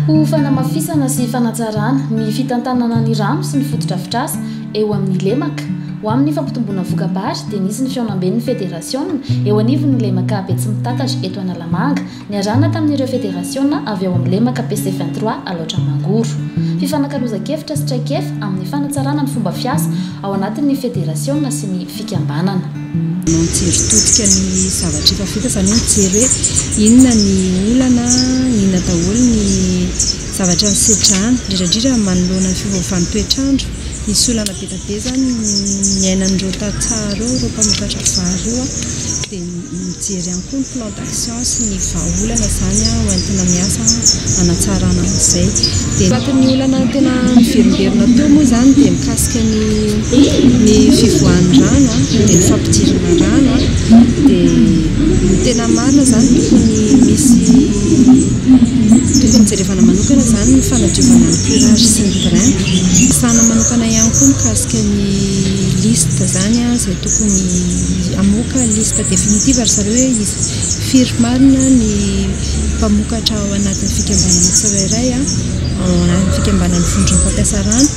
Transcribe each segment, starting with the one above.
Ho fanamafisana sy fanatsarana ny fitantanana ny rano sy ny fotodrafitrasa eo amin'ny lemaka ho amin'ny fampitomboana voka-bary dia nisy ny fihaonamben'ny federasiona eo anivon'ny lemaka Betsimitatatra eto Analamanga Niarahana tamin'ireo federasiona avy ao amin'ny lemaka PC vingt trois Alaotra Mangoro. Fifanakalozan-kevitra sy traikefa amin'ny fanatsarana ny fomba fiasa ao anatin'ny federasiona sy ny fikambanana. Manao mijery todika ny zavatra efa vita, izany hoe mijery hoe inona ny olana, inona daholo ny zavatra nisedrana, indrindra indrindra manoloana ny fiovaovan'ny toetr'andro. Nisy olana be dia be izany niainan'ireo tantsaha ireo, ireo mpamokatra vary ireo. Mijery ihany koa ny plan d'action sy ny vahaolana izany ho entina miasa hanatsarana an'izay. Dia anatin'ny olana tena niverimberina teo moa izany dia mikasika ny ny fivoahan'ny rano dia ny fampidirana rano. Dia ny tena marina izany tokony hisy tokony jerevana manokana izany ny fanadiovana ny curage sy ny drain. Resahana manokana ihany koa mikasika ny liste izany izay tokony Hamoaka liste definitive ry zareo hoe iza, firy marina ny mpamokatra ao anatin'ny fikambanana tsirairay, ao anatin'ny fikambanan'ny vondron'ny mpampiasa rano.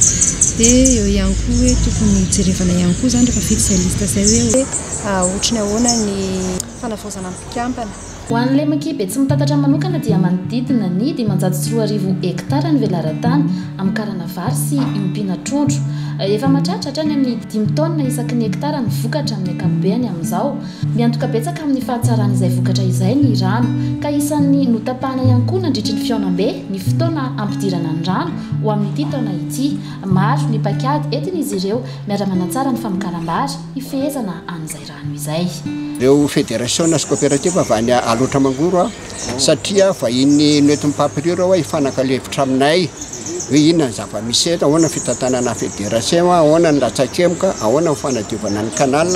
Dia eo ihany koa hoe tokony jerevana ihany koa izany rehefa vita izay liste izay hoe ohatry ny ahoana ny fanavaozana ny mpikambana. Ho an'ny Lemki Betsimitantatra manokana dia manodidina ny dimanjato sy roa arivo hektara ny velaran-tany amin'ny karana vary sy iompiana trondro. Efa mahatratra hatrany amin'ny dimy taonina isaky ny hektara ny vokatra amin'ny ankapobehany amin'izao. Miantoka betsaka amin'ny fahatsaran'izay vokatra izay ny rano, ka isan'ny notapahana ihany koa nandritry ny fihaonambe ny fotoana hampidirana ny rano ho amin'ity taona ity. Maro ny paikady entin'izy ireo miara-manatsara ny famokaram-bary hifehezana an'izay rano. Ano izay. Ireo federasiona sy koperativa avy any Alaotra Mangoro aho satria vahiny noentin'ny Papyrur aho hifanakalo hevitra aminay hoe inona ny zava-misy eto, ahoana ny fitantanana federasiona, ahoana ny latsakemoka, ahoana ny fanadiovana ny canal,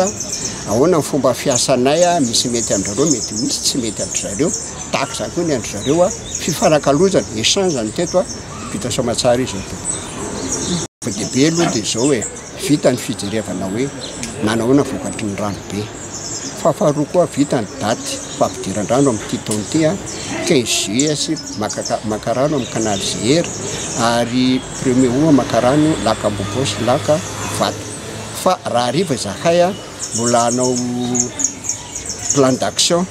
ahoana ny fomba fiasanay, misy mety amin-drizareo, mety misy tsy mety an-drizareo, tahaka izany koa ny an-drizareo. Fifanakalozana, échange, no teto. Vita soamantsara izao tompoko. Ny zava-dehibe aloha dia izao e. vita ny fijerevana hoe nanahoana vokatry ny rano be. Fa faharoa koa vita ny daty fahafidiran-drano amin'ity taona ity, 15 juillet sy Makaka, Mankarano amin'ny canal GR ary premier août Mankarano, lac Ambohipo sy lac Ivato. Fa raha hariva izahay mbola hanao plan d'action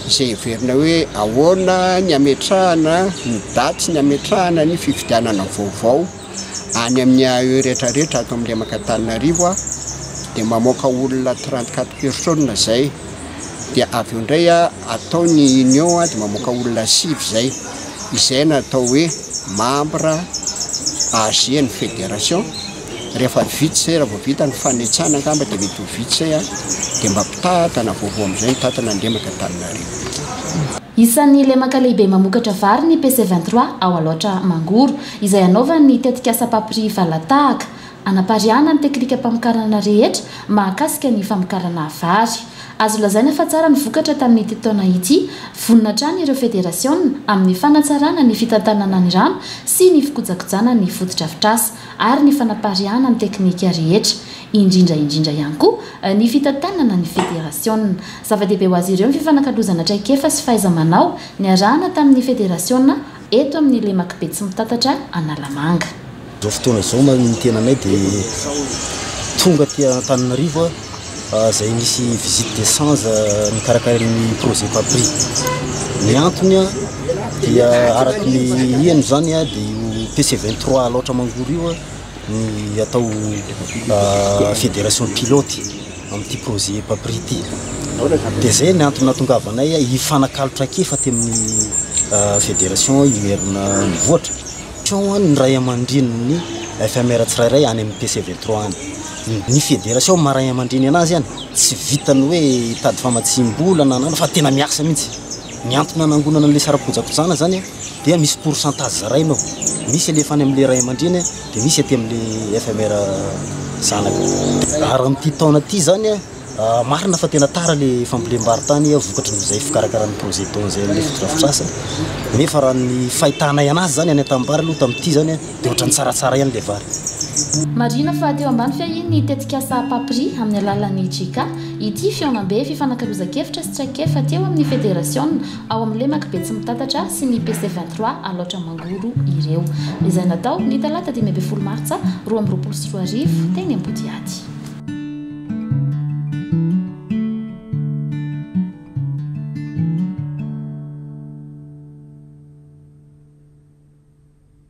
izay heverina hoe ahoana ny hametrahana ny daty sy ny hametrahana ny fifidianana vaovao. any amin'ny AE rehetra rehetra ato amin'ny lemaka Antananarivo aho dia mamoaka olona trente quatre personnes izay dia avy eo indray aho atao ny union aho dia mamoaka olona sivy izay izay no atao hoe membre AG ny fédération rehefa vita izay raha vao vita ny fanitsana angamba dia mety ho vita izay aho dia mba mpitantana vaovao amin'izay ny tantana ny lemaka Antananarivo Isan'ny lemaka lehibe mamokatra vary ny PC vingt trois ao Alaotra Mangoro. izay hanaovany ny tetikasa Papri Valatahaka, hanapariahana ny teknikam-pamokarana rehetra mahakasika ny famokarana vary. Azo lazaina fa tsara ny vokatra tamin'ity taona ity. Vonona hatrany ireo federasiona amin'ny fanatsarana ny fitantanana ny rano sy ny fikojakojana ny fotodrafitrasa ary ny fanapariahana ny teknika rehetra, indrindra indrindra ihany koa ny fitantanana ny federasiona. Zava-dehibe ho azy ireo ny fifanakalozana traikefa sy fahaiza-manao niarahana tamin'ny federasiona eto amin'ny lemak'i Betsimitatatra Analamanga. Izao fotoana izao ny tenanay dia tonga aty Antananarivo izay misy visite de change nikarakarain'ny projet PAPRI. Ny antony dia araka ny heno izany dia io PC 23 Alaotra Mangoro io ny atao fédération pilote amin'ity projet EPAPRI ity dia izay ny antony nahatongavanay hifanakalo traikefa aty amin'ny fédération IMERM mivoatra ny ray aman-drenin'ny FMR tsirairay any amin'ny PC 23 any ny fédération maha ray aman-dreny anazy any tsy vitan'ny hoe hitady famatsiam-bola na an'ana fa tena miasa mihitsy ny antony nanangonana an'ilay saram-pojakojana izany dia misy pourcentage zaraina ao, misy alefa any amin'ilay ray aman-dreny dia misy aty amin'ilay FMR zanaka. Ary amin'ity taona ity izany, marina fa tena tara ilay fambolem-barontany vokatry ny izay fikarakaran'ny projet don izay amin'ilay fotodrafitrasa, nefa raha ny fahitanay an'azy izany any an-tanimbary aloha tamin'ity izany dia ohatran'ny tsaratsara ihany ilay vary. Marihina fa teo ambany fiahian'ny tetikasa Papri amin'ny alalan'ny JICA ity fihaonambe fifanakalozan-kevitra sy traikefa teo amin'ny federasiona ao amin'ny lemaka Betsimitatatra sy ny PC vingt trois Alaotra Mangoro ireo, izay natao ny talata dimy ambin'ny folo martsa roa amby roapolo sy roa arivo teny Ambodiaty.